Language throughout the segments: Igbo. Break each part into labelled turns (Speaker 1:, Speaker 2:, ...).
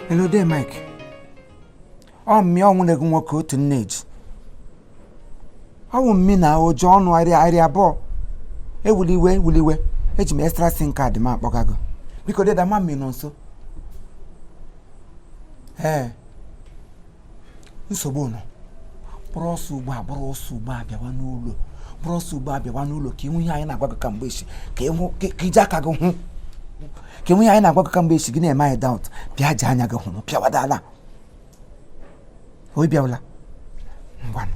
Speaker 1: Hello De Mike. Ọ mmị, ọ nwanne gị nwoke otu nne ji. Ọ wụ mmi na ụjọ ọnụ arịa arịa abụọ. Ewule iwe ewule iwe eji m extra sim kaadị m akpọga go. Biko deda mammy nọ nso. Ee. nsogbu nọ buru ọsọ ugbu a buru ọsọ ugbu a bịawa n'ụlọ buru ọsọ ugbu a bịawa n'ụlọ ka ị hụ ihe anyị na-agwa gị kamgbe echi ka ịhụ ka i ji aka gị hụ ka ị hụ ihe anyị na-agwa gị kamgbe echi gị na-eme anyị daụt bịa ji anya gị hụrụ pịawada ala o bịawala ngwanụ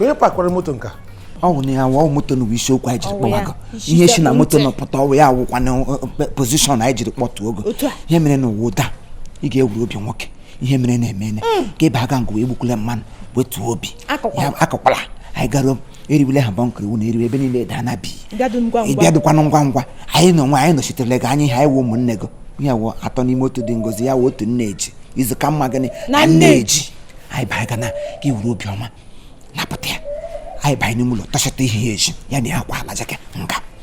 Speaker 2: onye pakwara moto nka ọ wụ na ya wụọ
Speaker 1: moto nụ wụ isiokwu anyị jiri kpọwa go ihe si na moto nụ pụta ọ wụ ya wụkwa na uh, uh, pozishọn anyị jiri kpọtụ go ihe merenụ wụ da ị ga-ewuru obi nwoke ihe merenụ emeene hmm. ka ị baga nga ahụ egbukwule mmanụ wetuo obi akọkwala anyị garuo eriwele ha bọnkụ iwu na eriwe ebe niile daa na bi ịbịadụkwanụ ngwa ngwa anyị na onwe anyị nọchitere gị anyị ha wụ ụmụnne gị ya wụ atọ n'ime otu dị ngọzị ya wụ otu nne ji izu ka mma gịnị na nne ji anyị baga na ka i wuru obiọma napụta ya anyị banye n'ime ụlọ tọchata ihe ya eji ya na ya kwa ala jeke nga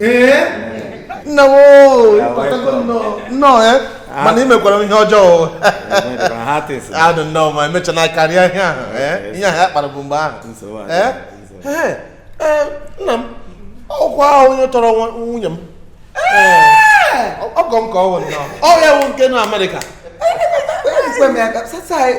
Speaker 3: ee
Speaker 2: nna m oo, Ya, ịkpọtago welcome. nnọọ nnọọ eh? mana ị mekwara m ihe ọjọọ adụ nnọọ ma emechana karịa ihe ahụ eh? ihe ahụ ya kpara bụ mgbe ahụ Nsogbu adịghị, Eh? nsogbu. Eh, eh, nna m ọkwa ahụ onye tọrọ nwa- nwunye m Eh, ọgọ m ka ọ wụ nnọọ ọ ya wụ nke nọ amerịka Ekwe m ya ka- sasa, eh,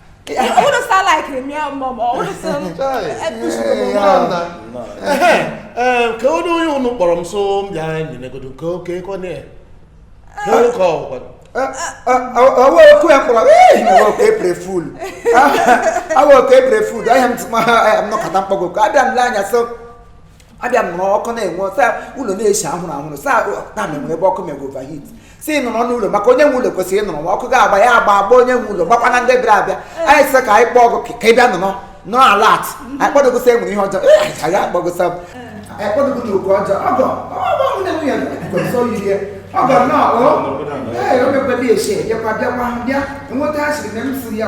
Speaker 4: Who does that like him?
Speaker 2: Yeah, mom. Or who does um, ka onye onye ụnụ kpọrọ m sị m bịa nyenegodo nke oke kọ na ya ka onye ka
Speaker 1: ọgwa awa oku ya kpọrọ awa oku April Fool awa oku April Fool ahịa m tụma ya m nọkata m kpọ go ka abịa m le anya so abịa nọrọ ọkụ na-enwu saa ụlọ na-esi ahụrụ ahụrụ saa na mere ebe ọkụ mere overheat si nọrọ n'ụlọ maka onye nwe ụlọ kwesịrị ịnọrọ ma ọkụ ga-agba ya agba agba onye nwe ụlọ gbakwana ndị bịara abịa anyị sị ka anyị kpọọ go ka ị bịa nọrọ na alat anyị kpọdo go sa enwere ihe ọjọọ ee anyị agaghị akpọ go sa m anyị kpọdo go na oke ọjọọ ọgọ ọgọ m na-enwe ya kwesịrị oyi ya ọgọ nnọọ o ee o mekwebe esi enyekwa bịakwa bịa enweta ha siri na m si ya